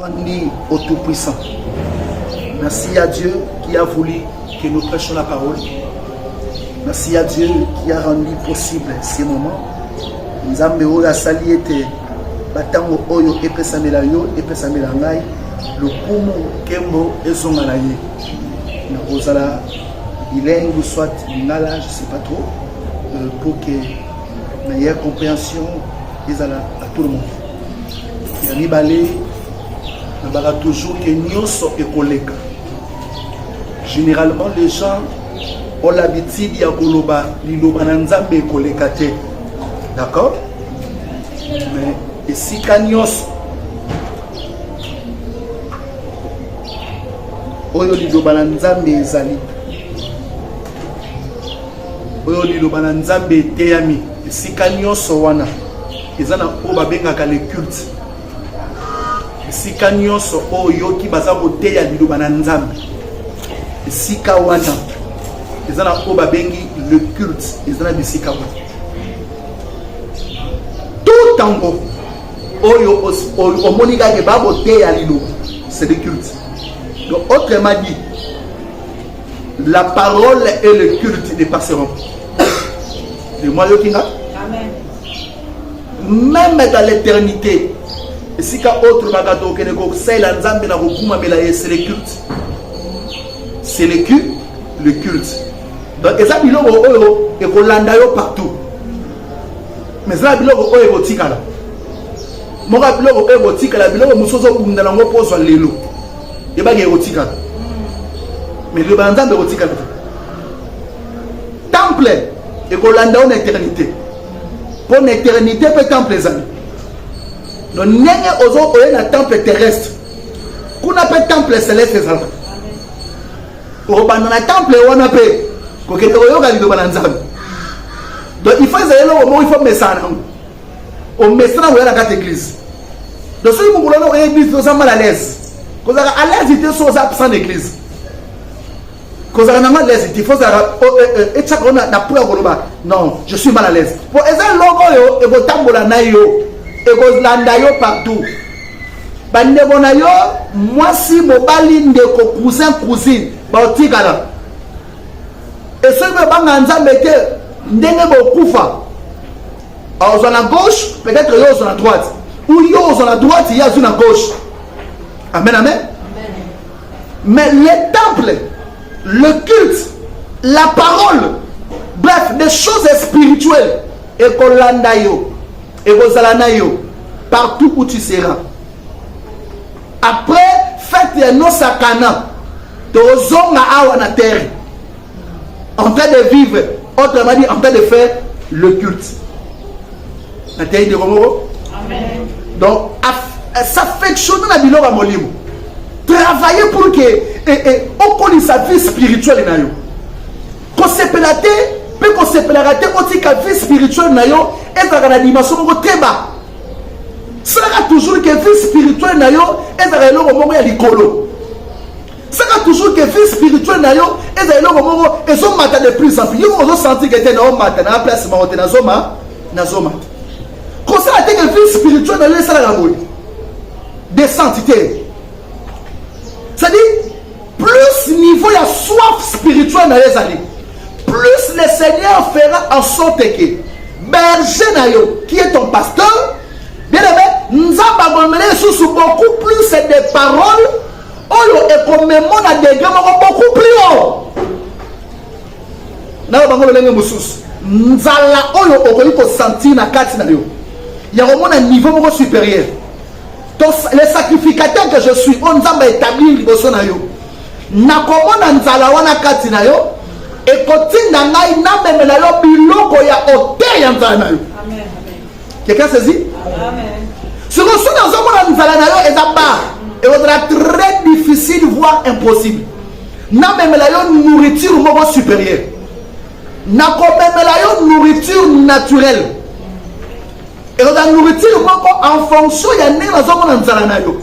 Grandi au Tout-Puissant. Merci à Dieu qui a voulu que nous prêchions la parole. Merci à Dieu qui a rendu possible ces moments. Nzambe oyo asali ete batango oyo epesamela yo epesamela ngai lokumu kembo ezonga na ye nakozala bilingue ou soit lingala je sais pas trop euh, pour que meilleure compréhension ezala à tout le monde ya mibale nabaka toujours ke nyonso ekoleka généralement les gens ont l'habitude ya koloba liloba na nzambe ekoleka te d'accord mais esika nyonso oyo liloba na nzambe ezali oyo liloba na nzambe eteyami esika nyonso wana eza na oyo babengaka le culte esika nyonso oyo oyoki baza koteya liloba na nzambe esika wana eza na oyo babengi le culte eza na bisika wana to ntango oyo omoni kake bakoteya liloba c'est le culte donc autrement dit la parole et le culte ne passeront de moi yoki nga meme dans l'éternité esika oyo tolobaka tokende kosalela nzambe na kokumamela ye c'est le culte c'est le culte le culte donc eza biloko oyo ekolanda yo partout mais eza biloko oyo ekotikala moko ya biloko oyo ekotikala biloko mosusu ozobunda nango mpo ozwa lelo ebaki ekotikala mais liloba ya nzambe ekotikala te temple ekolanda yo na eternité mpo na eternité mpe temple ezali no ndenge ozo oye na temple terrestre kuna mpe temple celeste ezalaka okobanda na temple wana mpe kokende koyoka liloba na nzambe donc il faut ezali eloko moko il faut omesana nango omesana koya na kati église donc soki mokolo wana oye église oza mal à l'aise kozalaka à l'aise te so oza absent na église kozala nango à l'aise te faut ozalaka oh, eh, eh, etiaka ona na mpo ya koloba non je suis mal à l'aise mpo eza eloko oyo ekotambola na yo ekolanda yo partout bandeko na yo mwasi mobali ndeko cousin cousine baotikala esoki bobanga nzambe te ndenge bokufa ozwa na gauche peut-être yo ozwa na droite ou yo ozwa na droite ye azwi na gauche amen amen Mais les temples, le culte, la parole, bref, des choses spirituelles, et qu'on landa yo, et qu'on zalana yo, partout où tu seras. Après, fête ya no sakana, tozonga awa na terre. en train de vivre autrement dit en train de faire le culte nateyi ndeko moko donc s'affectionne na biloko ya molimo travailler pour que eh, eh, okolisa vie spirituelle na yo kosepela te mpe kosepelaka te otika vie spirituelle na yo ezalaka na dimension moko teba salaka toujours ke vie spirituelle na yo ezalaka eloko moko ya likolo saka toujours que vie spirituelle na yo eza eloko moko ezomata de plus en plus yo ozosentir ke te naomata na place moko te nazoma nazoma kosala te ke vie spirituelle na yo esalaka boye descente te c'est-à-dire plus niveau ya soif spirituelle na yo ezali plus le seigneur fera en sorte que berger na yo qui est ton pasteur bien aimé nzambe akomela lisusu beaucoup plus des paroles oyo ekomemo na degre moko beaucoup plus haut nayo bango lolenge mosusu nzala oyo okoki kosentir na kati na yo ya komona niveau moko supérieur to le sacrificateur que je suis oyo nzambe aétablir liboso na yo nakomona nzala wana kati na yo ekotinda ngai namemela yo biloko ya ote ya nzala na yo Quelqu'un saisit? Amen. Ce que soki ozomona nzala na yo eza bar ekozala très difficile voire impossible namemela yo nourriture moko supérieure nakomemela yo nourriture naturelle ekozala nourriture moko en fonction ya ndenge nazomona nzala na yo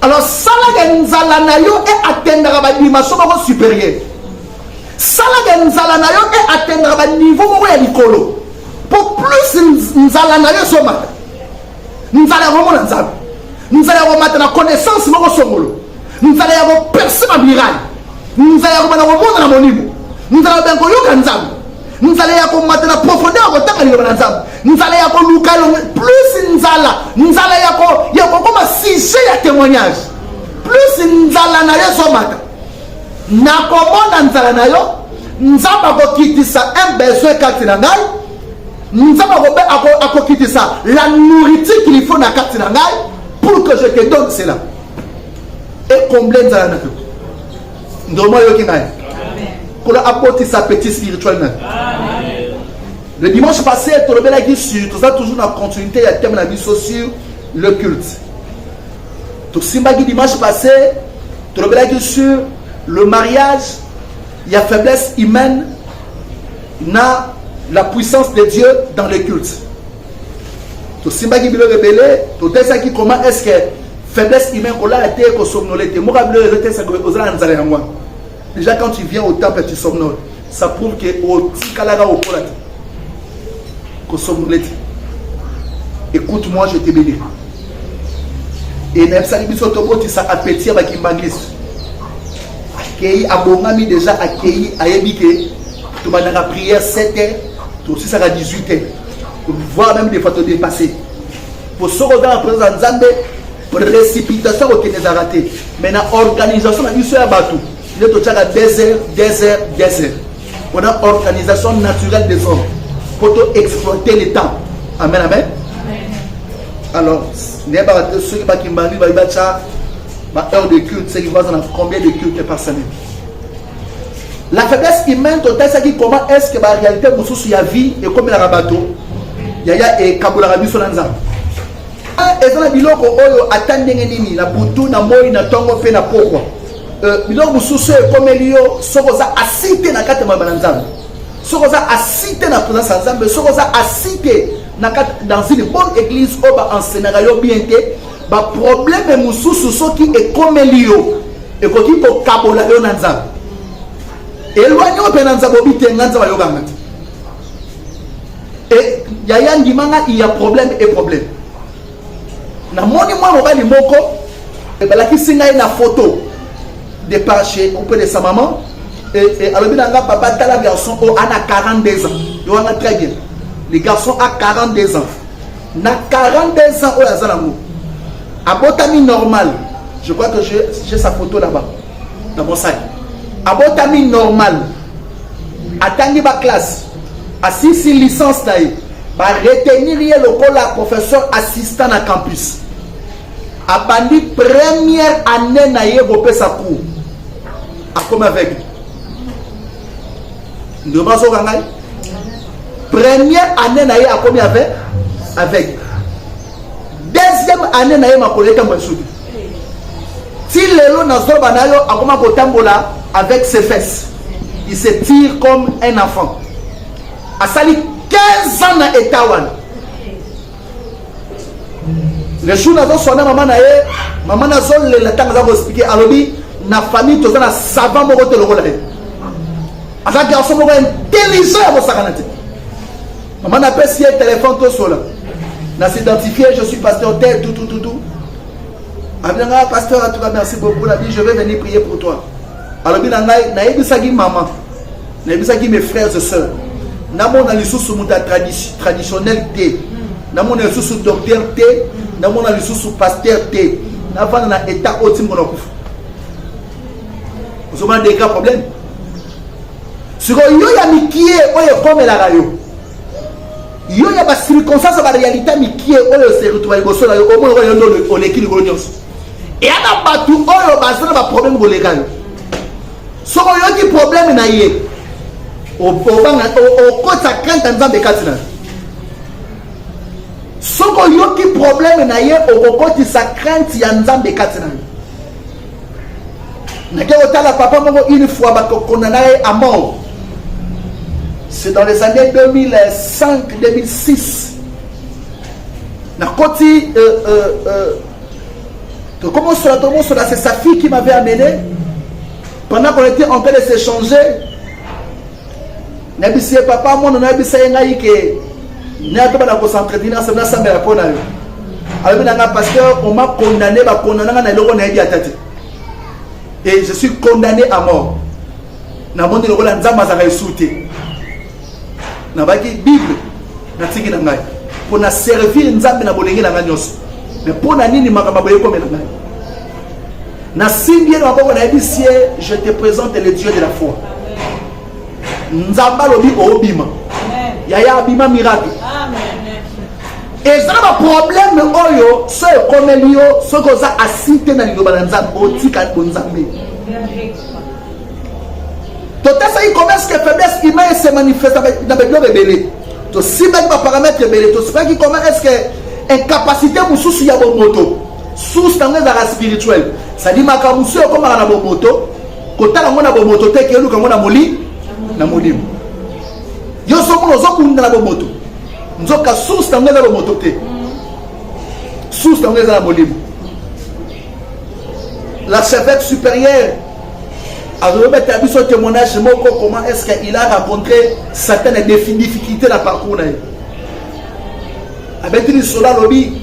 alors salaka nzala na yo e atendaka badimension moko supérieure Sala de nzala na yo e atteindre ba niveau moko ya likolo po plus nzala na yo ezomata nzala ya komona nzambe nzala ya komata na connaissance moko songolo nzala ya koperse babirani nzala ya kobanda komona na molimo nzala ya koyoka nzambe nzala ya komata na profondeur ya kotanga liloba na nzambe nzala ya koluka plus nzala nzala ya kokoma sujet ya témoignage plus nzala na yo ezomata Nakomona nzala na yo. Nzambe akokitisa un besoin kati na ngai. Nzambe akobe ako, akokitisa la nourriture qu'il faut na kati na ngai pour que je te donne cela. Et combler nzala na yo. Ndomo yoki ngai. Kola akotisa petit spirituel na. Amen. Le dimanche passé, tolobelaki sur, toza toujours na continuité ya thème na biso sur le culte. tosimbaki dimanche passé tolobelaki sur le mariage ya faiblesse humaine na la puissance de dieu dans le culte tosimbaki biloko ebele totesaki comment est ce que faiblesse humaine kolala te kosomnole te moko ya biloko ezotesaoza na nzala yango wana Déjà quand tu viens au temple tu somnoles, ça prouve que otikalaka okola te. Ko somnoler te. Écoute moi je te bénis. Et nayebisaki biso tobotisa appétit ya bakimbangiste. Akei abongami déjà akei ayebi ke tobandaka prière 7 heures tosisaka 18 heures voire même des fois todepasser po soki oza na présence ya nzambe Precipitation kokende ezalaka te, mais na organisation na biso ya bato nde totyaka desert, desert, desert. On a organisation naturelle des hommes pour exploiter le temps. Amen, amen. Alors, nayebaka te soki bakimbani bayi batya ba heure de culte seki baza na combien de culte par semaine la faiblesse humaine totalisaki comment est ce que baréalité mosusu ya vie ekomelaka bato yaya ekabolaka biso na nzambe Ah, eza na biloko oyo ata ndenge nini na butu na moi na ntongo mpe na pokwa euh, biloko mosusu oyo ekomeli yo soki oza asi te na kati ya maloba na nzambe soki oza asi te na présence ya nzambe soki oza asi te na kati dans une bonne église oyo baensenaka yo bien te baprobleme mosusu soki ekomeli yo ekoki kokabola yo na nzambe elwani oyo mpe na nzambe obi te nga nzambe ayokanga te Et yaya ndima nga il y a problème et problème. Na moni mwa mobali moko eh, balakisi ngai na photo de par chez on peut de sa maman et, eh, et eh, alobi na nga papa tala garçon oyo oh, ana 42 ans yo wana très bien le garçon a 42 ans na 42 ans oyo aza nango abotami normal je crois que j'ai sa photo là-bas na mosaki abotami normal atangi baklasse Asilisi licence na ye, ba retenir ye lokola professeur assistant na campus. Abandi première année na ye kopesa cours. Akomi aveugle. Ndio bazoka ngai. Première année na ye akomi aveugle. Deuxième année na ye makolo etambo esuki. ti lelo na zoba na yo akoma kotambola avec ses fesses il se tire comme un enfant asali 15 ans na etat wana le jour nazoswana mama na ye mama nazolela ntango aza koexplike alobi na famille toza na savant moko te lokola ye aza garçon moko intelligent ya kosakana te Maman n'a pas signé téléphone tout cela. N'a s'identifié, je suis pasteur tel tout tout tout tout. Abinanga pasteur en tout cas merci beaucoup la vie je vais venir prier pour toi. Alors binanga na ebisaki maman. Na ebisaki mes frères et sœurs. Na mona lisusu muta traditionnel te. Na mona lisusu docteur te, na mona lisusu pasteur te. Na vana na état otimbo na kufa. Vous avez des cas problèmes siko yo ya mikie oyo ekomelaka yo yo ya bacirconstance ya barealité mikie oyo oseretrouva liboso na yo omoni oyo nde oleki likolo nyonso eya na bato oyo baza na baproblème koleka yo soki oyoki problème na ye obanga okotisa krente ya nzambe kati na yo soki oyoki problème na ye okokotisa krente ya nzambe kati na yo nake kotala papa moko une fois bakokona na ye à mort c'est dans les années 2005 2006 nakoti euh, euh, euh, tokomosola tokomosola c'est sa fille qui m'avait amené pendant qu'on était en train de s'échanger Na bisiye papa mono na bisa ye ngai ke na to bana ko s'entretenir na sabna samba ya pona yo. Alobi na nga pasteur on m'a condamné ba condamna nga na eloko na yebi atati. Et je suis condamné à mort. Na moni lokola nzamba zaka esute. Na baki Bible na tiki na ngai. Pona servir nzambe na bolenge na nga nyoso. Mais pona nini makamba boye komela ngai? Na simbi ye na maboko na yebisi ye je te présente le Dieu de la foi. nzambe alobi obima yaya abima miracle eza na baprobleme oyo so ekomeli yo soki oza asi te na liloba na nzambe otika bonzambe totesaki commerce ke faiblesse ima ese manifesta na babiloko ebele tosimbaki baparametre ebele tosipaki koma eske incapacité mosusu ya bomoto source yango ezalaka spirituel sadi makambo mosusu ekomaka na bomoto kotala yango na bomoto te keluka yango na moli na molimo yo sokuna ozokunda na bomoto nzoka source yango eza bomoto te source yango eza na molimo la chevette supérieure azobeta biso témoignage moko comment est ce que il a rencontré certaines difficulté na parcours na ye abeti lisolo alobi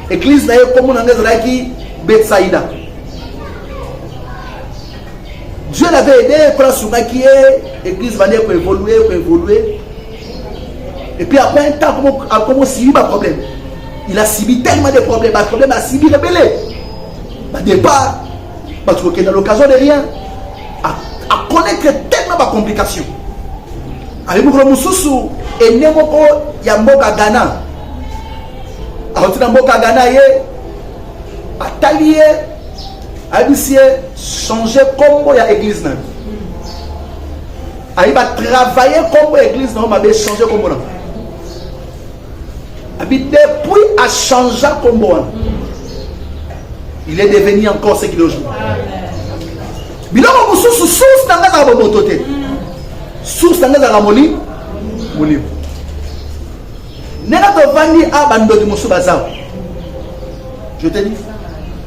église na ye komona yango ezalaki betsaida Dieu l'avait aidé, quand asungaki ye, église bande ko évoluer, ko évoluer. Et puis après un temps, comme on subi ba problème. Il a subi tellement de problèmes, ba problème a subi rebelle. Ba départ, parce que dans l'occasion de rien, à, à connaître tellement ba complications. Avec beaucoup de mususu, et ne moko ya mboka Ghana. Alors tu na mboka Ghana ye, atali ye ayebisi ye change kombo ya eglise na yo ayebi batravaille kombo ya eglise na yo mabe change kombo na abi depuis achangea kombo wana il est devenu encore ce qu'il aujourd'hui biloko mosusu source na ngai ezaka bomoto te source na ngai ezaka molimo molimo ndenge tovandi a bandoki mosusu bazawa je te dis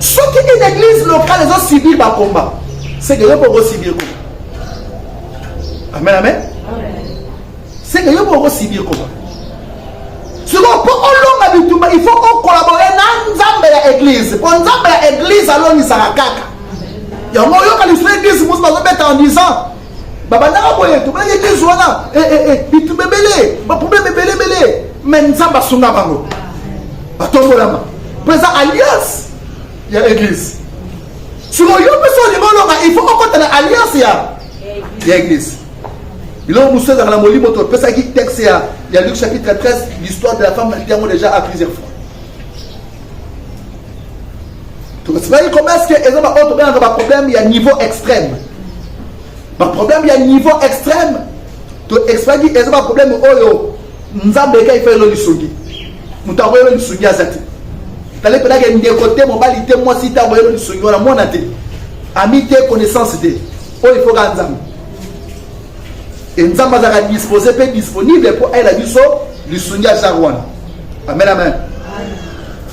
soki une église locale ezo subir ba combat c'est que yo mpe okosibir combat amen amen c'est que yo mpe okosibir combat sikoyo mpo olonga bitumba il faut okolabore na nzambe ya église mpo nzambe ya église alongisaka kaka yango oyoka lisusu église mosusu bazobeta en disant babandaka boye tobelaki eglise wana eh, eh, eh, bitumba ebele baproblème ebele ebele me nzambe asunga bango batombolama mpo eza alliance ya eglise siko yo mpe so olingi olonga il faut okota na alliance ya ya eglise biloko mosusu ezalaka na molimo topesaki texte ya ya luc chapitre 13 l'histoire de la femme naliki yango déjà à plusieurs fois tokosibaki komesi ke eza baoyo tobengaka baproblème ya niveau extrême baproblème ya niveau extrême toexplaki eza baproblème oyo nzambe eka efayelo lisungi moto akoyelo lisungi aza te tali mpenaka ndeko te mobali te mwasi te akoyelo lisungi wana mwana te ami te connaissance te oyo ifoka nzambe e nzambe azalaka dispose mpe disponible mpo ayela biso lisungi ya genre wana amen amen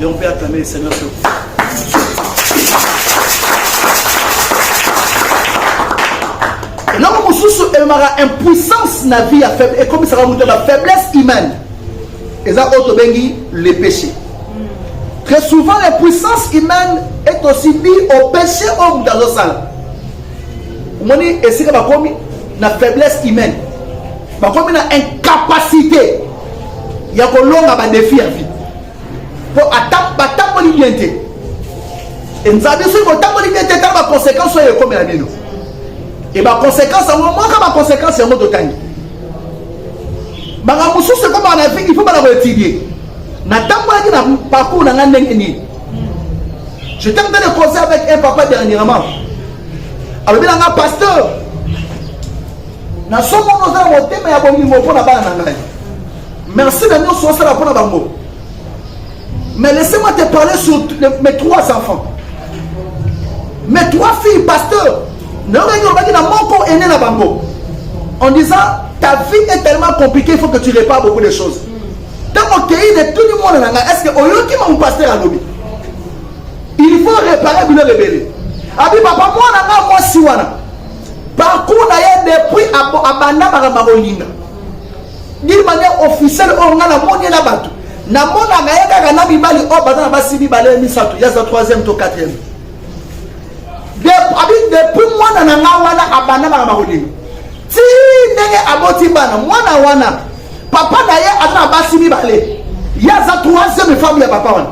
Et on peut acclamer le Seigneur sur eloko mosusu ememaka impuissance na vie ya faible ekomisaka moto na faiblesse humaine eza oyo tobengi le péché très souvent l'impuissance humaine est aussi due au péché oyo moto azosala omoni esika bakomi na faiblesse humaine bakomi na incapacité ya kolonga badefi ya vie mpo batamboli bien te enzabi soki botamboli bien te tala baconséquence oyo ekomela bino e baconséquence yango mwaka baconséquence yango totangi makambo mosusu ekomaka na vie il faut bana koetudie natambolaki na parcours na ngai ndenge nini j'étais en train de causer avec un papa dernièrement alobi na ngai pasteur Na somo no zala motema ya bomimo pona bana na ngai. Merci na nyoso osala pona bango. Mais laissez-moi te parler sur mes trois enfants. Mes trois filles, pasteur, na yokaki olobaki na moko ene na bango en disant ta vie est tellement compliquée il faut que tu répares beaucoup de choses ntango okei de tout le monde na ngai est ce que oyoki mamu pasteur alobi il faut réparer biloko ebele abi papa mwana ngai mwasi wana parcours na ye depuis abanda makambo ya kolinga d'une manière officielle oyo ngai namoni ye na bato namonaka ye kaka na mibali oyo baza na basi mibale misato ye aza troisième to quatrième abi depuis mwana na ngai wana abanda makambo ya kolinga ti ndenge aboti bana mwana wana papa na ye aza na basi mibale ye aza troisième femme ya papa wana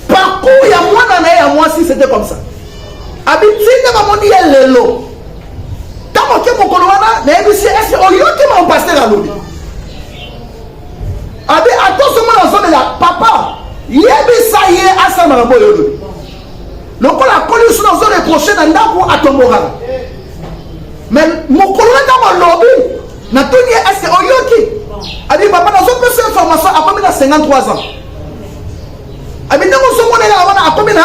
parcours ya mwana na ye ya mwasi c'était comme ça abitinde bamoni ye lelo ntango oke mokolo wana nayebisi ese oyoki ma pasteur alobi abi atosomona ozomela papa yebisa ye asala makambo oyo olobi lokola akoli suna ozo reproche na ndako atombokaka me mokolo na ntango alobi natuni ye ese oyoki abi papa nazopesa information akomi na 53 ans abi ndenge ozomonela wana akomi na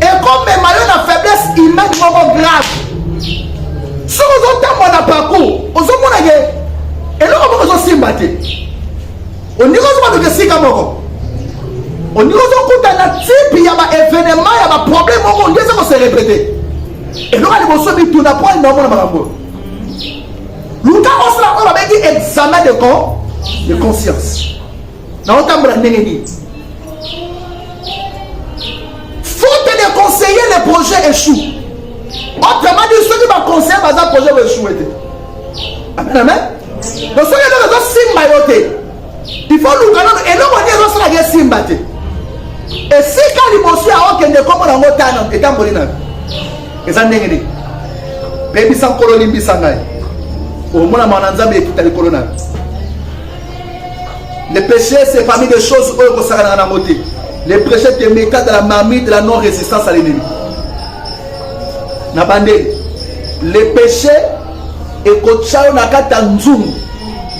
ekomema yo na faiblesse humaine moko grave soki ozotambola na parcours ozomona ke eloko moko ezosimba te oninga ozobandoka esika moko oninga ozokuta na tipe ya baevenema ya baproblème moko ondi eza koserepete eloko ya liboso mituna mpo alinga omona makambo oyo luka osala oyo babengi examen de con de conscience naotambola ndenge nini faute de conseiller le projet échoue autrement dit soki baconseiller baza projet boechoue te amen amen donc soki eloko ezosimba yo te il faut luka nano eloko nini ezosalaka esimba te esika liboso ya okende kombo nango tana etamboli nayo eza ndenge nini bebisa nkolo limbisa ngai omona mawa na nzambe ekuta likolo nayo Le péché, c'est parmi les choses oyo kosakanaka na mote. Le péché te meta dans la marmite de la non-résistance à l'ennemi. Na bande, le péché ekotya yo na kati ya nzungu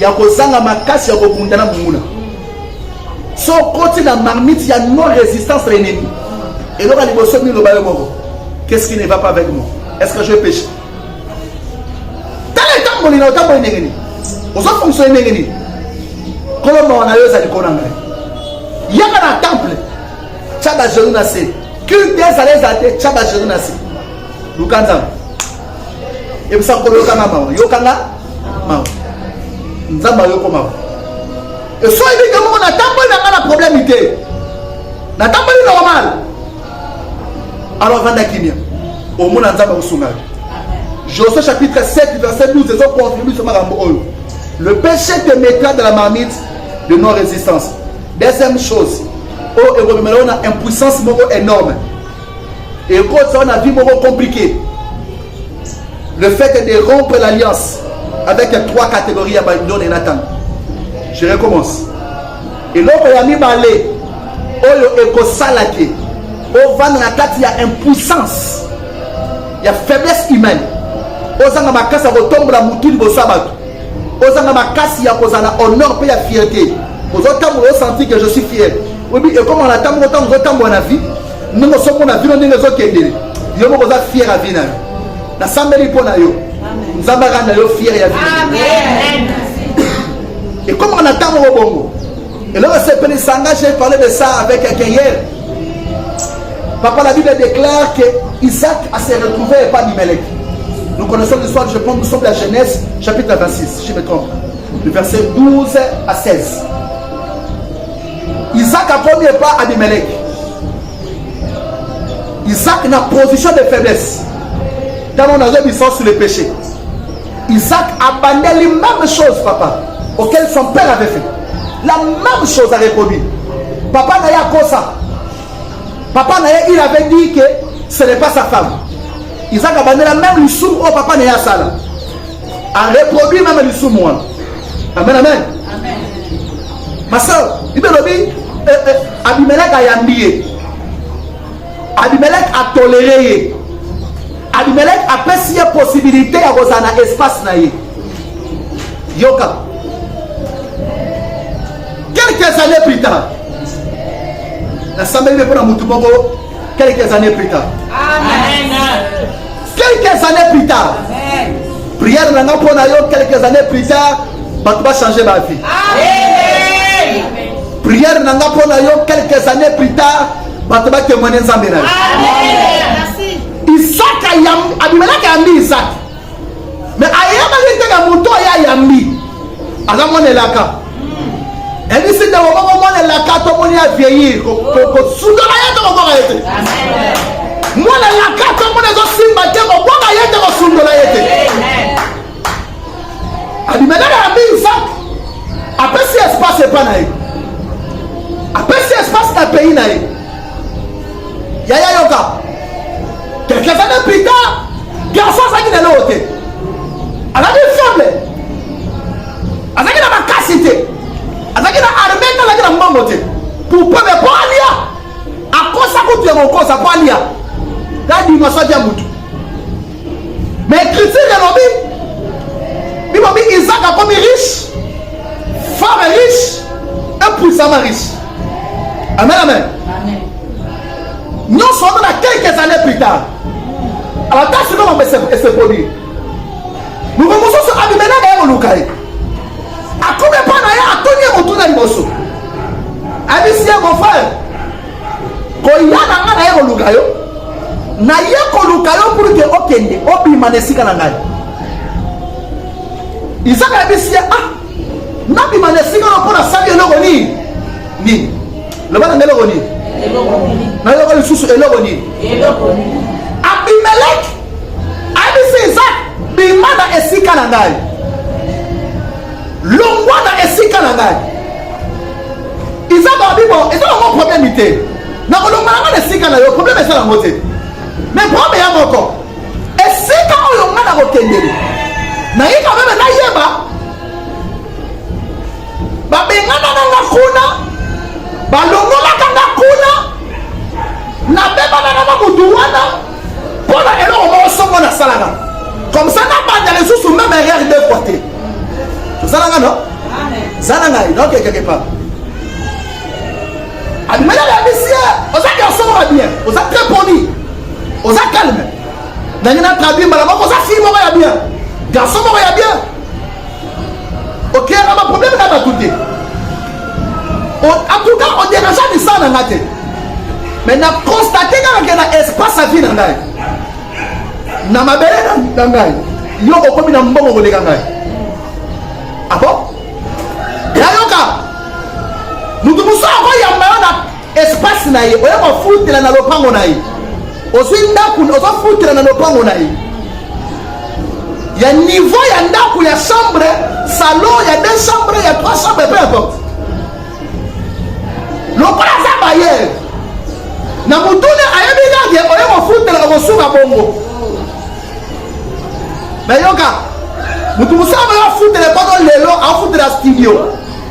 ya kozanga makasi ya kobunda na monguna. So okoti na marmite ya non-résistance à l'ennemi, eloko ya liboso nini loba yo moko? Qu'est-ce qui ne va pas avec moi? Est-ce que je péché? tala etamboli na otamboli ndenge nini ozo fonctionne ndenge nini kolo mawa na yo ezali kona ngai yaka na temple tya bagenou na se culte ezala ezala te tya bagenou na se luka nzambe ebisa kolo yokanga mawa yokanga mawa nzambe ayoko mawa esoyebi te moko natamboli na ngai na problème te natamboli normal alors vanda kimia omona nzambe akosunga yo josue chapitre 7 verset 12 ezoconfirme biso makambo oyo le péché te mettra de la marmite de non résistance deuxième chose oyo oh, ekomemela yo na impuissance moko énorme ekotisa yo na vie moko compliqué le fait de rompre l'alliance avec trois catégories ya babilone na ntango je recommence Eloko ya mibale oyo ekosala ke ovanda na kati ya impuissance ya faiblesse humaine, ozanga makasi ya kotombola mutu liboso ya bato, ozanga makasi ya kozala honor mpe ya fierte, ozotambola osanti ke je suis fier, oyebi ekomaka na ntango ntango ozotambola na vie Ndenge osomona vino ndenge ezokendele yo moko oza fier ya vi na yo nasambeli mpo na yo nzambe akanda yo fier ya vi ekomaka na ntango moko bongo eloko esepelisa nga j'ai parlé de ça avec quelqu'un hier papa la bible déclare que isaac a se retrouvé epa bimelek nous connaissons l'histoire je pense nous sommes la genèse chapitre 26 je me trompe le verset 12 à 16 Isaac akomi epa Abimelech. Isaac na position de faiblesse. Dans mon azoi bisous sur les péchés. Isaac abandeli même chose papa auquel son père avait fait. La même chose a reproduit. Papa na ye akosa. Papa na ye il avait dit que ce n'est pas sa femme. Isaac abandela même lisumu oyo papa na ye asala. a reproduire meme lisumu wana amen amen masao bible elobi eh, eh, abimelek ayambi ye abimelek atolere ye abimelek apesi ye possibilité ya kozala na espace na ye yoka quelques années plus tard nasambeli mpe mpo na motu moko Quelques années plus tard. Amen. Quelques années plus tard. Amen. Prière nanga mpo na yo quelques années plus tard bato bachange ba vie. Amen. Prière nanga mpo na yo quelques années plus tard bato batémoigne nzambe na yo. Amen. Isaka abimelaki ayambi Isaka me ayebaki te na moto oyo ayambi aza mwana elaka ebisi nde omoko mwana elaka tomoni ya vieillir kosudola ye te kokoka ye te mwana elaka tomoni ezosimba te kokoka ye te kosundola ye te abimelaka na mbingi sak apesi espace epa na ye apesi espace na pays na ye yaya yoka quelques années plus tard garçon azalaki na eloko te azalaki faible azalaki na makasi te azalaki na arme te azalaki na mbongo te pour peuple mpo alia akosa kutu ya kokosa mpo alia na dimension ya motu Mais critique elobi bino bi Isaac akomi riche, femme est riche et puissamment riche. Amen amen. Amen. Nyonso wana na quelques années plus tard. Alors ta sikoyo mambo ese produit. Luka mosusu abimela na ye koluka ye. Akomi epai na ye atuni ye motuna liboso. Abisi ye mon frère koya na ngai naye koluka yo naye koluka yo pour ke okende obima na esika na ngai isaka yebisi ye ah nabima na esika na mpo nasali eloko nini nini loba na ngai eloko nini nayoka lisusu eloko nini abimeleki ayebisi isaka bima na esika na ngai longwa na esika na ngai izaka wabibo eza nango probleme te nakolongola nga na esika na yo probleme eza nango te me probleme ya moko esika oyo nga na kokendele naye kameme nayeba babengana na nga kuna balongolaka nga kuna nabebana na na motu wana mpo na eloko moko soko nasalaka comme ça nabanda lisusu meme erreur deux fois te tozalanga no zala ngai nokekeke pa abimeli abebisi ye oza kiosonga bien oza très poli oza calme ndenge na traduit mbala moko oza fille moko ya bien garçon moko ya bien okeyaka baproblème na bato te en tout cas oderanja lisala na nga te mais na constate kaka ke na espace ya vie na ngai na mabele na ngai yo okomi na mbongo koleka ngai abo ah yayoka moto mosusu akoyamba yo na espace na ye oya kofutela na lopango na ye ozwi ndako ozofutela na lopango na ye ya niveau ya ndako ya chambre salon ya deux chambre ya trois chambre peu importe lokola aza bayere na motuna ayebi kake oye kofutela okosuka bongo nayoka motu mosala bayo afutela mpano lelo afutela studio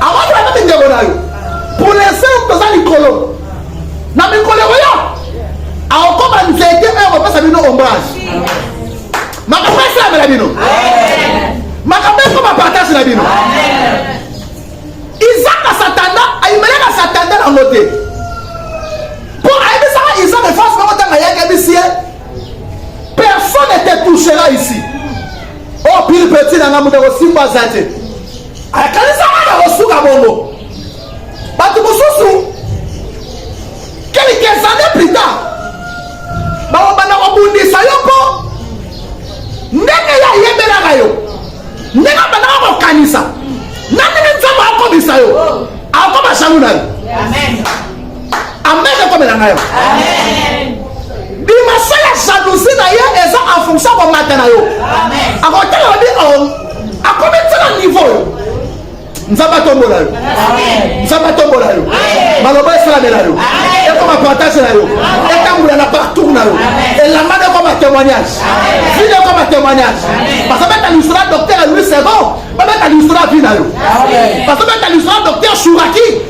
akotelaka mindeko na yo pour l'instant toza likolo na mikolo ekoya akokoma nzete oyo akopesa bino ombrage makambo esalamela bino makambo ekoma partage na bino isaka satanda ayimelaka satanda nango te mpo ayebisaka isaka efasi moko ntango ayaki ayebisi ye personne ne te touchera ici o oh, pire petit na ngai moto akosimba aza te akanisaka na kosuka bongo bato mosusu quelques années plus tard bakobanda kobundisa yo mpo ndenge ye ayebelaka yo ndenge abandaka kokanisa na ndenge nzambe akomisa yo akoma jaloux na yo amen ekomela ngai dimension ya jalousie na ye eza en fonction komata na yo akotala obi oh, akomi ntela niveau yo nzambe atombola yo nzambe atombola yo maloba esalamela yo ekoma partage na yo etambola na partour na yo elamba na ekoma témoignage vile ekoma témoignage bazobeta lisolo ya docteur ya louis second babeta lisolo ya vi na yo bazobeta lisolo ya docteur shuraki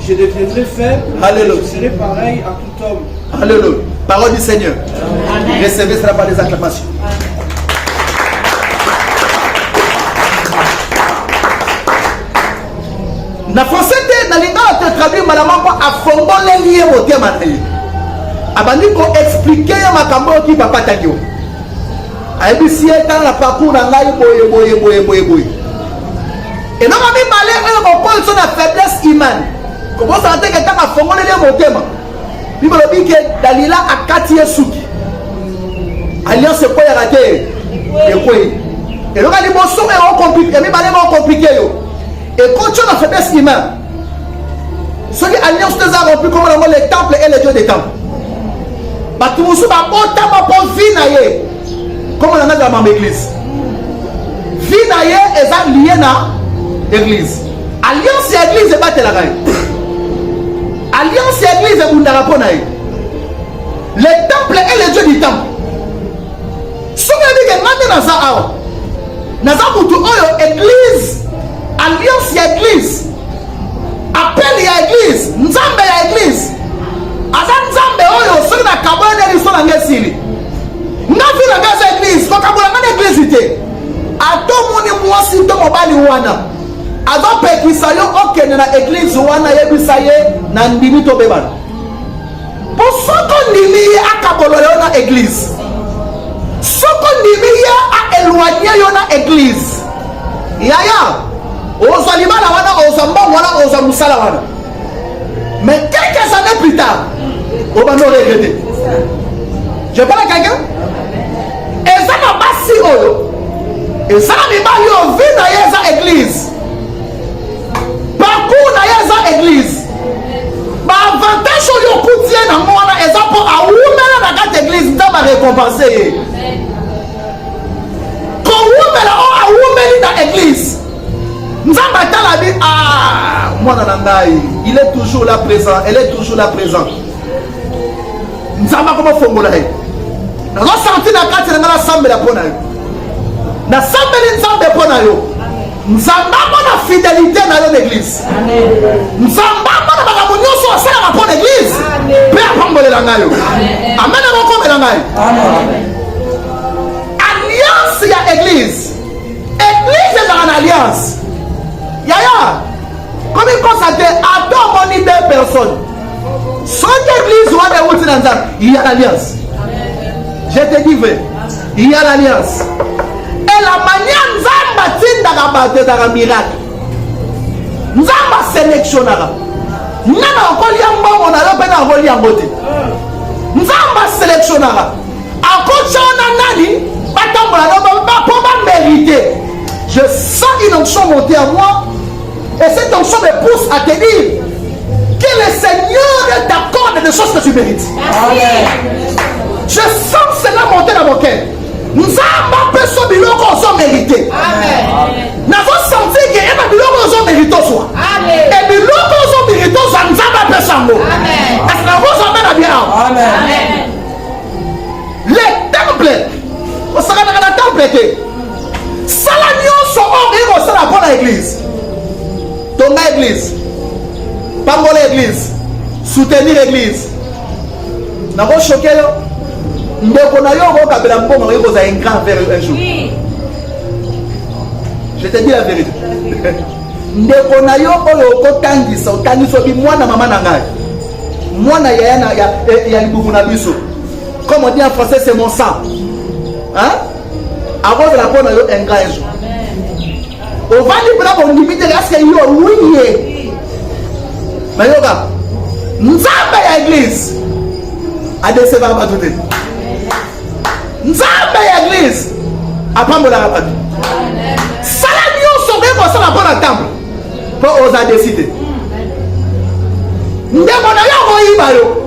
Je deviendrai faible. Alléluia. Je serai pareil à tout homme. Alléluia. Parole du Seigneur. Amen. Recevez cela par les acclamations. na français te na lingala te traduire malamu mpo afongoleli ye motema na ye abandi koexplike ye makambo oyo ki papa tagi ayebisi ye tala na parcours na ngai boye boye boye boye boye eloko mibale oyo kokolisa na faiblesse humaine kobosana te ke ntango afongoleli ye motema bible elobi ke dalila akati ye suki alliance ekweyaka te ekwei eloko ya liboso oyo ya mibale ekokomplike yo ekotyo na faiblesse humaine soki alliance te eza rompu komona yango le temple et le dieu de temple bato mosusu babotama mpo vi na ye komona nga ezala mama eglise vi na ye eza lie na eglise alliance ya eglise ebatelaka ye alliance ya eglise ebundaka mpo na ye le temple et le dieu du temple soki oyebi ke ngai nde naza awa naza motu oyo eglise alliance ya eglise appel ya eglise nzambe ya eglise aza nzambe oyo soki nakabola nde liso na ngai esili nga vi na ngai aza eglise kokabola ngai na eglise te ata omoni mwasi to mobali wana azopekisa yo okende na eglise wana yebisa ye na ndimi tobebana Po soko ndimi ye akabola yo na eglise. Soko ndimi ye a eloigner yo na eglise. Yaya, ozwa libala wana, ozwa mbongo wana, ozwa musala wana. Mais quelques années plus tard, obanda o regretter. Je parle à quelqu'un? Eza na basi oyo, eza na mibali oyo vie na ye eza eglise. parcours na ye eza eglise baavantage oyo okuti ye nango wana eza mpo awumela na kati eglise nzambe arekompense ye kowumela oyo awumeli na eglise nzambe atalabi a ah, mwana na ngai il est toujours là présent elle est toujours là présent nzambe akomofongola ye nazosanti na kati na ngai nasambela mpo na yo nasambeli nzambe mpo na yo nzambambo na fidelite na yo na eglise nzambambo na makambo nyonso asalaka mpo na eglise mpe apambolela ngai yo amen akokomela ngai alliance ya eglise eglise ezalaka na alliance yaya komikosa te ata omoni de personne soki eglise wana euti na nzambe ya l'alliance je te dis vrai ya l'alliance elamania nzambe atindaka bato ezaka miracle nzambe aselektionaka nga na okolia mbongo na yo mpe na okoli yango te nzambe aselektionaka akotya wana nani batambola no mpo bamerite je sens une onction monte à moi Et cette onction me pousse à te dire que le Seigneur t'accorde des choses que tu mérites. Je sens cela monter dans mon cœur. nzambe apeso biloko ozo merite nazosanti ke eba biloko ozo merite ozwa e biloko ozo merite ozwa nzambe apeso yango kasi nakozwa mpe na bia awa le temple osakanaka na temple te sala nyonso oyo okoki kosala mpo na eglize tonga eglize pambola eglize soutenir eglize nakoshoke yo ndeko na yo okokabela mbongo okoki kozala ingrat vers yo un jour je te dis la vérité ndeko na yo oyo okotangisa otangisi obi mwana mama na ngai mwana yaya ya libumu na biso comme on dit en français c'est mon sang hein? akozala mpo na yo ingrat ezo ovandi mpona bondimi te eske yo wiye nayoka nzambe ya eglise adesevaka bato te nzambe ya eglise apambolaka bato sala nyonso okoki kosala mpo na ntango mpo oza deside ndeko na yo akoyiba yo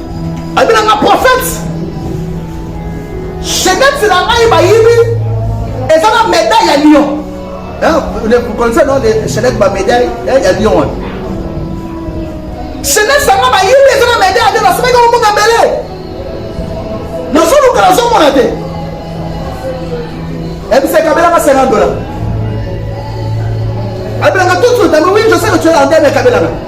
abinanga prophète jeunesse na ngai bayibi eza na medaille ya lion connaissez non jeunesse ba medaille ya lion wana jeunesse yango bayibi eza na medaille ya lion nasomaki omona mbele nazoluka nazomona te ebiseka belaka 50 dollars abelaka tout suite oui je sais que tu es en guerre mais kabelaka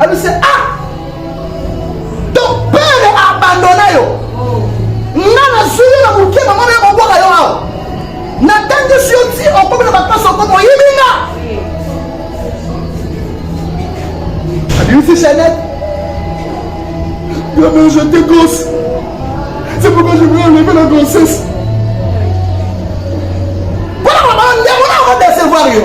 abise ah ton père abandona yo nga nazwi yo na moke mama nayo kobwaka yo awa natangisi yo ti okomi na bapasi okomi oyibi nga abimisi chanete yo mais je te gosse c'est pourquoi je voulais enlever la grossesse mpona mama ndeko na okodesevoir yo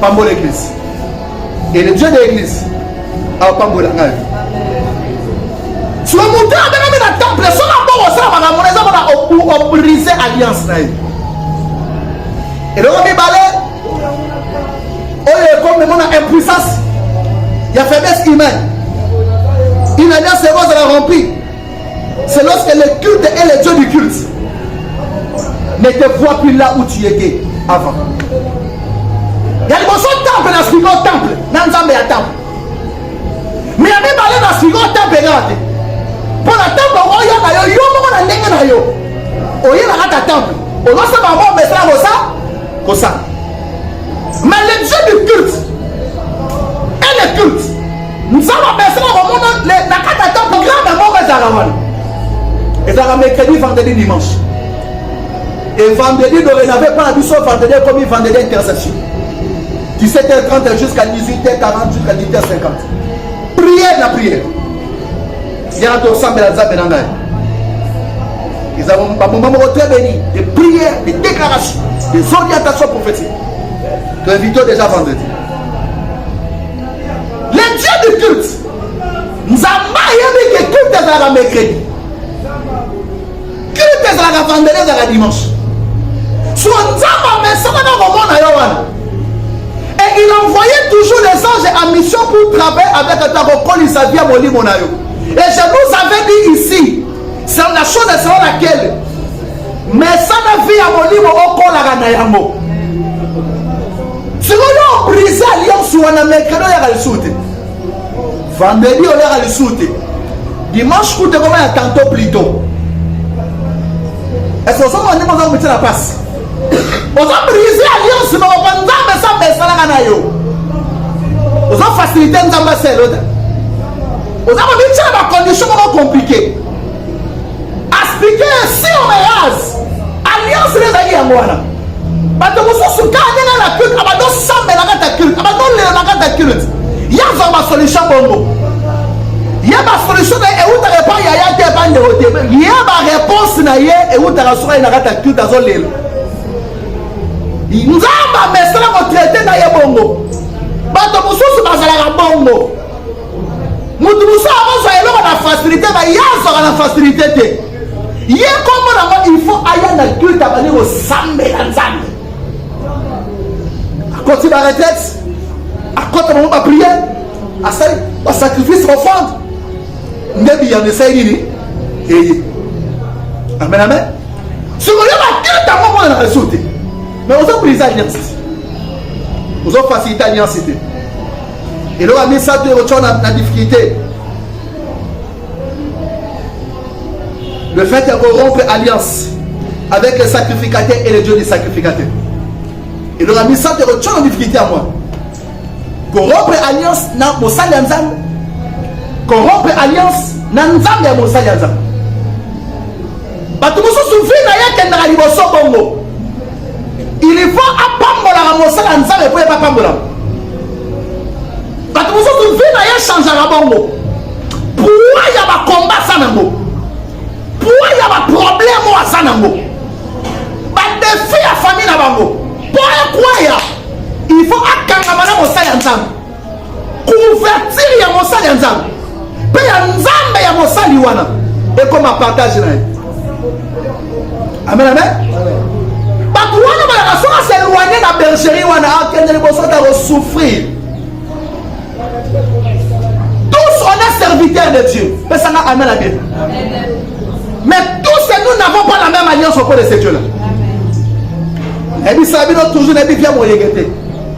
pambola eglise et le dieu de l'église apambola ngai soki moto oyo abengami na temple soki aboko osala makambo na eza mpona obrise alliance na ye eloko mibale oyo ekomemona impuissance ya faiblesse humaine une alliance ekozala remplie C'est lorsque le culte et le Dieu du culte ne te voient plus là où tu étais avant. ya liboso temple na suivi o temple na nzambe ya temple me ya mibale na suivi o temple kaka te mpo na temple okoya na yo yo moko na ndenge na yo oye na kata temple ozosala bango omesana kosa kosala mais le dieu du culte et le culte nzambe apesaka komona na kati ata programme ya moko ezalaka wana ezalaka mercredi vendredi dimanche et vendredi dorénave mpo na biso vendredi ekomi vendredi interception 17h30 jusqu'à 18h40 jusqu'à 18h50 prière na prière yana tosambela nzambe na ngai eza bamoma moko très béni de prière de déclaration des orientations prophétiques toinvito déjà vendredi le dieu du culte nzambe ayebi ke culte ezalaka mercredi culte ezalaka vendredi ezalaka dimanche so nzambe amesana na komona yo wana et il envoyait toujours les anges en mission pour travailler avec ata kokolisa vie ya molimo na yo et je vous avais dit ici Sala la chose est selon laquelle mesana vie ya molimo okolaka na yango sikoyo obrise alliance wana mercredi oyaka lisusu te vendredi oyaka lisusu te dimanche kutu ekoma ya tanto plito eske ozomona ndenge oza komitisa na mpasi oza brise alliance moko mpo nzambe esambe esalaka na yo oza facilite nzambe aselota oza komityela ba condition moko komplike aspike sur mease alliance nde ezalaki yango wana bato mosusu ka ndenge na culte abando sambela kata culte abando lela kata culte ye azwa basolution bongo ye basolution na ye ewutaka epai ya ya te epai ndeko te ye bareponse na ye ewutaka soka ye na kata culte azolela nzambe amesana kotraite na ye bongo bato mosusu bazalaka bongo moto mosusu akozwa eloko na facilité ba ye azwaka na facilité te ye nkombo nango il faut aya na culte abandi kosambela nzambe akoti ba retraite akota bango bapriere asali basacrifice offrande nde biyano esali nini eye amen amen sikoyo baculte yango mona na resour te mais ozo brise alliance te ozo facilite alliance te eloko ya misato ekotya na, na difficulté le fait ya korompre alliance avec le sacrificateur et le dieu du sacrificateur eloko ya misato ekotya na difficulté ya mwana korompre alliance na mosali ya nzambe korompre alliance na nzambe ya mosali ya nzambe bato mosusu vi na ye akendaka liboso bongo il faut apambolaka mosala ya nzambe mpo ye bapambolaka bato mosusu vi na ye echangeaka bongo pua ya bakomba aza nango pua ya baproblème oyo aza nango badefi ya famille na bango mpo ekwaya il faut akangama na mosala ya nzambe couverture ya mosali ya nzambe mpe ya nzambe ya mosali wana ekoma partage na ye amen amen bato wana balaka soki aseloigne na bergerie wana akende liboso ta kosouffrir tous on est serviteur de dieu pesanga amen na bible mais tous nous n'avons pas la même alliance auprès de ce dieu là ebisa bino toujours nayebi bia moyenge te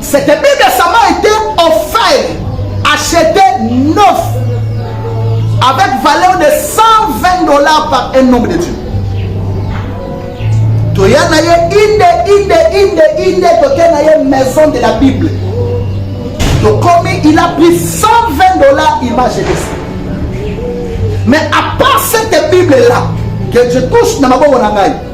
C'était bien que ça m'a été offert, acheté neuf, avec valeur de 120 dollars par un homme de Dieu. toya na ye inde inde inde inde toke na ye maison de la bible tokomi il a pris 120 dollars il m'a jeté ça mais à part cette bible là que je touche na maboko na ngai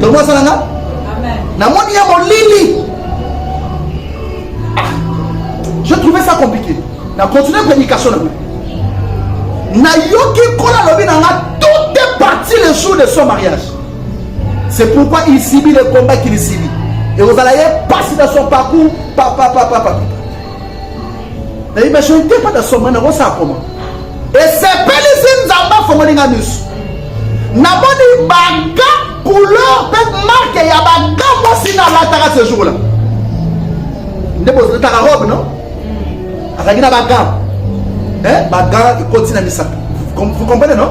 tomosa na nga namoni ya molili ah, je trouve ça compliqué na continue prédication na nga nayoki nkolo alobi na nga tout est parti le jour de son mariage c'est pourquoi il subit le combat qu'il subit ekozala ye pasi na son parcours papapapapa nayebi je n'étais pas na soma nakosala comment esepelisi nzambe afongoli nga misu namoni baga couleur mpe marke ya baga mwasi nalataka ce jour la nde bozotaka robe no azalaki na baga eh, baga ekoti na misato vous comprenez no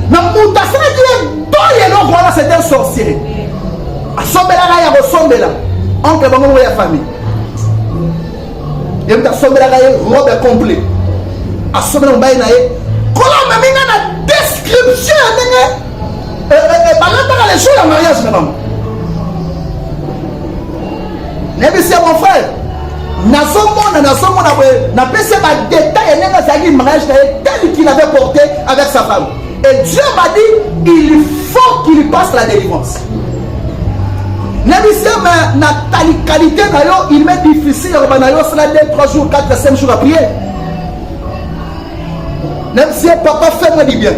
na moto asalaki ye dole eloko wana c'est un sorcier asombelaka ya kosombela oncle bango moko ya famille ye mpe asombelaka ye robe ya complet asombela mobali na ye kola amemi nga na description ya ndenge eh, eh, eh, balataka le jour ya mariage na bango nayebisi ya mon frère nazomona nazomona boye napesi ye badetail ya ndenge azalaki mariage na ye tel qu'il avait porté avec sa femme Et Dieu m'a dit, il faut qu'il passe la délivrance. nayebisi ma na qualité na yo il m'est difficile ya kobanda yo osala 2 3 jours 4 5 jours aprie nayebisi ye papa fait moi du bien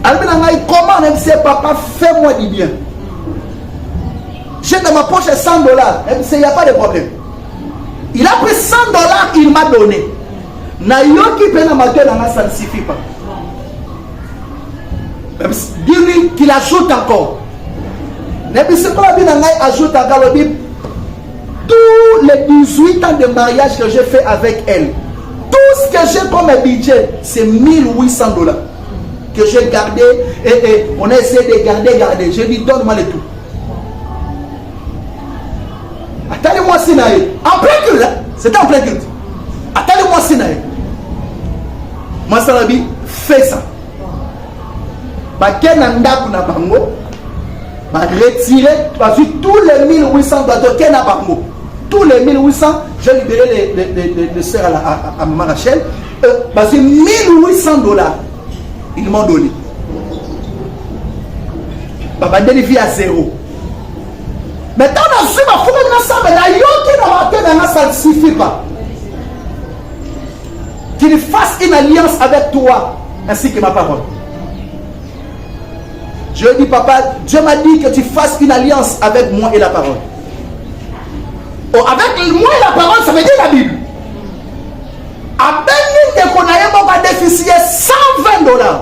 alobi na ngai comment nayebisi ye papa fait moi du bien j'ai dans ma poche 100 dollars nayebisi ye ya pas de problème il a pris 100 dollars il m'a donné nayoki mpe na matoi na nga ça ne suffit pas dis-lui qu'il ajoute encore nayebisi mpo abi na ngai ajoutaka alobi tous les 18 ans de mariage que j'ai fait avec elle tout ce que j'ai comme budget c'est 1800 dollars que j'ai gardé et, et on a essayé de garder garder j'ai dit donne-moi le tout atali mwasi na ye en plein culte c'était en plein culte atali mwasi na ye mwasi alobi fesa bake na ndako na bango baretire bazwi tous les 1800 doit toke na bango tous les 1800 je libéré les, les, les, les, les sœurs à, à, à maman Rachel euh, bazwi 1800 dollars ils m'ont donné babandeli vie à zéro Mais ntango nazwi bafukaki na samba nayoki na mate na nga ça ne suffit pas qu'il fasse une alliance avec toi ainsi que ma parole je dis papa Dieu m'a dit que tu fasses une alliance avec moi et la parole oh, avec moi et la parole ça veut dire la Bible abengi ndeko na ye moko adefisi ye 120 dollars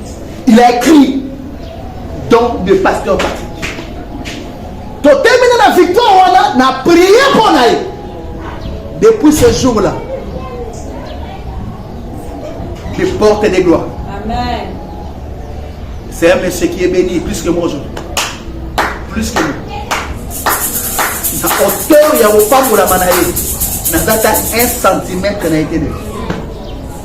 Il a écrit don de pasteur Patrick. totemina na victoire wana na priye mpo na ye depuis ce jour là je porte des gloires Amen. c'est un monsieur qui est béni plus que moi aujourd'hui plus que moi na hauteur ya kopambolama na ye naza ta 1 centimètre na ye te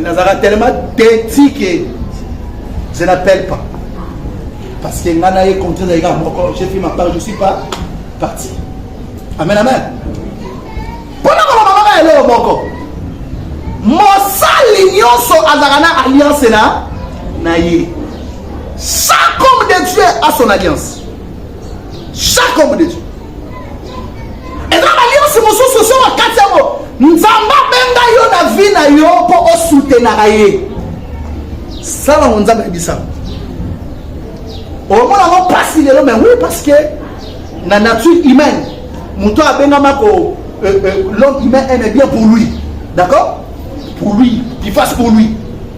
nazalaka tellement teti ke je n'appelle pas parce que ngai naye contraire naye kaka moko j'ai fait ma part je suis pas parti amen amen mpona koloba kaka eloko moko mosali nyonso azalaka na alliance na na ye chaque homme de dieu a son alliance chaque homme de Dieu eza baliasi mosusu osi wakati yango nzambe abenga yo na vi na yo mpo osutenaka ye sala ngo nzambe ayebisa omona ngo mpasi lelo mais oui parce que na nature humaine moto abengama ko euh, euh, l'homme humain aime bien pour lui d'accord pour lui qui fasse pour lui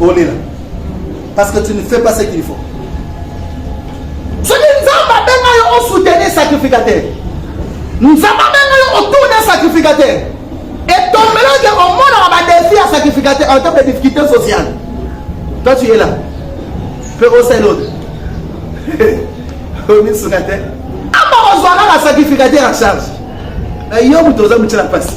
olela parce que tu ne fais pas ce qu'il faut soki nzambe abenga yo osoutenir sacrificateur nzambe abenga yo otourne sacrificateur etombeloke omonaka badefi ya sacrificateur en tant que difficulté sociale toi tu es là mpe osali ote omisunga te ama kozwa kaka sacrificateur en charge eh, yo moto oza motyela mpasi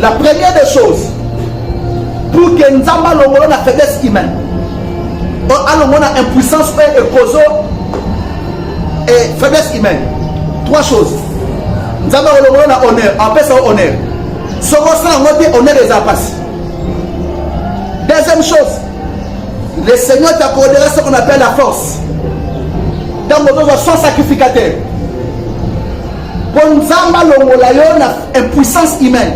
La première des choses, pour que Nzamba longola na faiblesse humaine, alongola na impuissance et ekozo et faiblesse humaine. Trois choses. Nzamba longola na honneur, apesa honneur. Soko sala ngote honneur les apasi. Deuxième chose, le Seigneur t'accordera ce qu'on appelle la force. Donc, on doit sans sacrificateur. Po Nzambe alongola yo na impuissance humaine.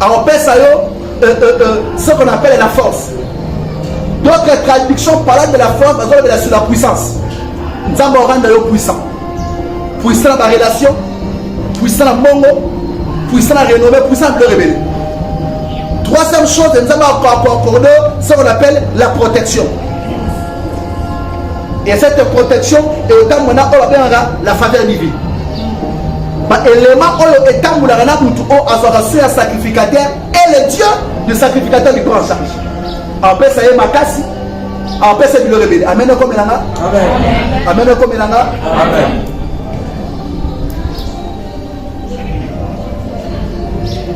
Akopesa yo euh, euh, euh, ce qu'on appelle la force. D'autres traductions parlant de la force, bazolobela sur la puissance. Nzambe oranda yo puissant. Puissant na ba relation, puissant na mbongo, puissant na renommée, puissant na biloko ebele. Troisième chose, Nzambe akorde ce qu'on appelle la protection. et cette protection eotambwa na oyo babengaka la faveur divine baelema oyo etambulaka na motu oyo azwaka soin ya sacrificateur et le dieu de sacrificateur du prend en charge apesa ye makasi apesa biloko ebele amen ekomela nga amen ekomela nga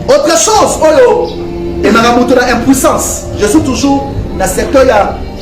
autre chose oyo emaka moto na impuissance je suis toujours na secteur ya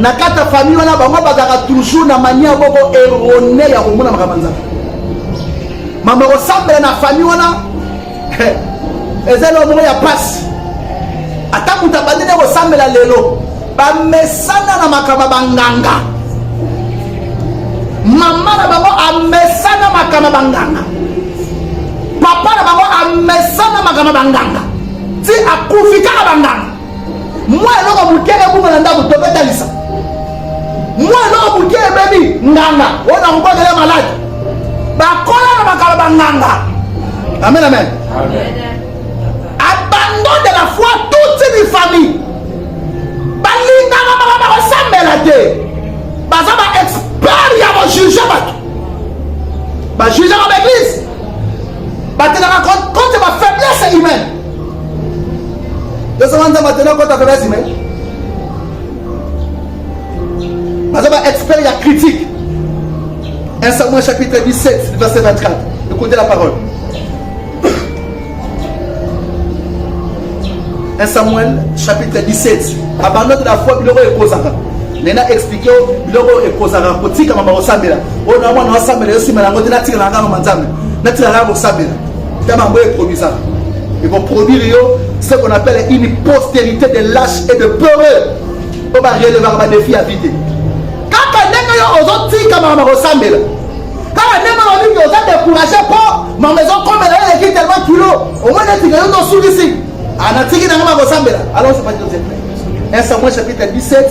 na kati ya famille wana bango bazalaka toujours na mania boko erone ya komona makambo ya nzambe mama kosambela na famille wana eza eloko moko ya mpasi ata moto abandi nde kosambela lelo bamesana na makambo ya banganga mama na bango amesana makambo ya banganga papa na bango amesana makambo ya banganga ti akufi kaka banganga mwa eloko moke ebunga na ndako tobetalisa mwa eloko moke ebebi nganga oyo nakobondela maladi bakola na bakala banganga amen amen abandon de la foi toute une famille balingaka baka bakosambela te baza ba expert ya kojuge bato bajugaka baeglise batelaka contre bafaiblesse humaine Tosoma nzambe atene okota kolasi me baza ba expert ya critique 1 Samuel chapitre 17 verset 24 écoutez la parole 1 Samuel chapitre 17 abandon de la foi biloko ekozaka nena explike yo biloko oyo ekozaka kotikama bakosambela oyo na mwana wasambela yo nsima na yango te natikala na kaka manzambe natikala kaka kosambela Tellement boye produisant. Ils vont produire yo ce qu'on appelle une postérité de lâches et de peureux. On va relever ma défi à vide. Kaka ndenge yo ozotika mama kosambela. Kaka ndenge olingi oza découragé po mama ezokomela yo eleki tellement kilo. Omoni etika yo ndosulisi. Anatiki nango makosambela. Alors c'est pas Joseph. 1 Samuel chapitre 17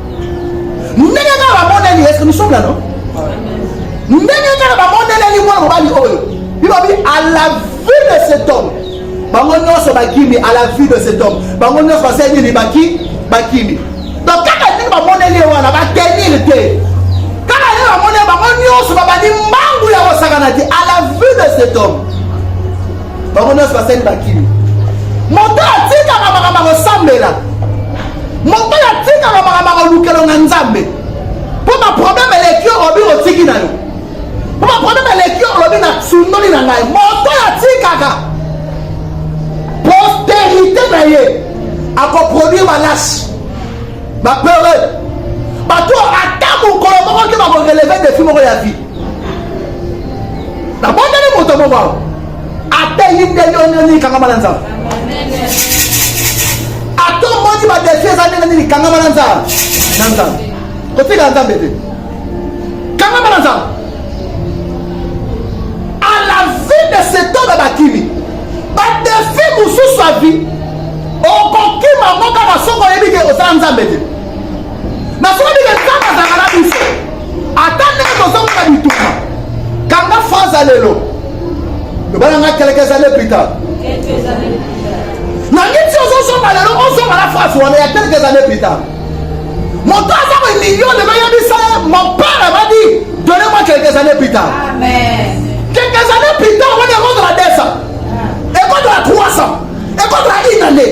ndenge kaka bamoneli eske nous sommes là non ndenge kaka bamoneleli mwana mobali oyo bibabi à la vue de cet homme bango nyonso bakimi à la vue de cet homme bango nyonso basali nini baki bakimi donc kaka ndenge bamoneli ye wana batenir te kaka ndenge bamoneli bango nyonso babandi mbangu ya kosakana te à la vue de cet homme bango nyonso basali bakimi moto atikaka makambo akosambela moto oyo atikaka makambo akolukelo na nzambe mpo baprobleme eleki yo obi otiki na yo mpo baprobleme eleki yo olobi na sundoli na ngai moto oyo atikaka posterité na ye akoproduire balasi bapeureux bato ata mokolo moko te bakoreleve defi moko ya vie nabondeli moto moko awa ata ye ndenge oyo ndenge nini kangama na nzambe ata omoni badefi eza ndenge nini kangama na nzambe na nzambe kotikala nzambe te kangama na nzambe a la vie de cet homme bakimi badefi mosusu ya vie okokima ngo kaka soki oyebi te osala nzambe te nasolobike nzambe azalaka na biso ata ndenge tozomona bituma kanga fraza lelo lobala nga kelekeza lepita nangi ti ozozonga lelo ozonga na fraze wana ya kelekeza lepita moto aza bamilio lelo yebisa ye mon père abadi done mwa quelques années plus tard quelques années plus tard wani ekozala 200 ekozala 300 ekozala une année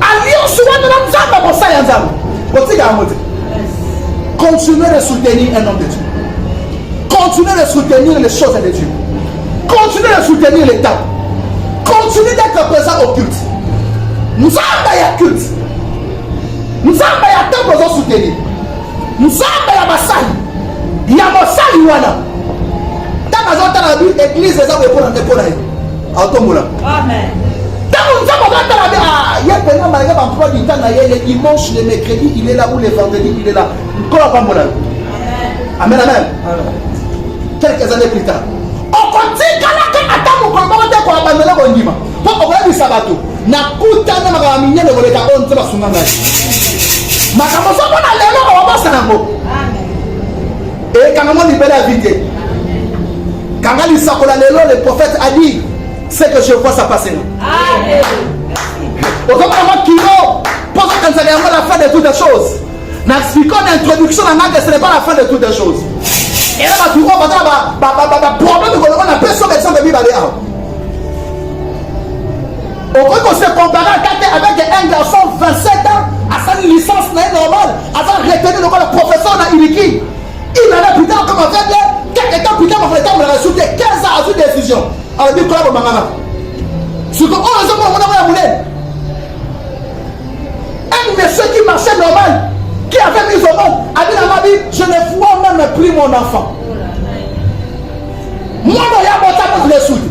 alliance wana na nzambe mosala ya nzambe botika yango te continuez de soutenir un homme de dieu continuez de soutenir les choses de dieu continuez de soutenir l'état continuez d'être présent au culte nzambe ya culte nzambe ya ntango ozo soutenir nzambe ya basali ya mosali wana ntango azotala bi eglize eza koyekola ndeko na ye atombola ntango nzambe azotala nde ah, ye mpenza malgré bamploi du temps na ye le dimanche le mercredi il est là ou le vendredi il est là nkolo apambola yo amen amen quelques années plus tard okotikalaka ata mokolo moko te koabandona kondima mpo okoyebisa bato nakutana makambo minene koleka oyo nzambe asunga ngai makambo ozomona lelo okobosa yango ekanga ngo libela vie te kanga lisakola lelo le prophète a dit ce que je vois ça passe na ozomona mwa kilo mpo ozokanisaka yango la fin de toutes les choses na expliquant na introduction na nanga ce n'est pas la fin de toutes les choses ela bato oyo baza na baproblème kolongo na mpe soka exemple mibale awa okoki kose compare ata te avec un garçon 27 ans asali licence na ye normal aza retenu lokola professeur na iliki il en a plus tard comme avec ye quelque temps plus tard bakona etambolaka su te 15 ans azwi décision alobi kola bomangana siko oyo ezomona mona moya monene un monsieur qui marchait normal qui avait mis au monde abi na mabi je ne vois même plus mon enfant mwana ya bota moto na esuki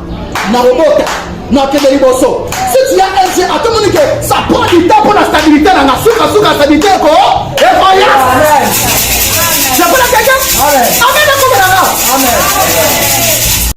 na robota na kende liboso si tu as un jeu atomoni ke ça prend du temps mpo na stabilité na nga suka suka stabilité eko ekoyas napona keke amen akomelanga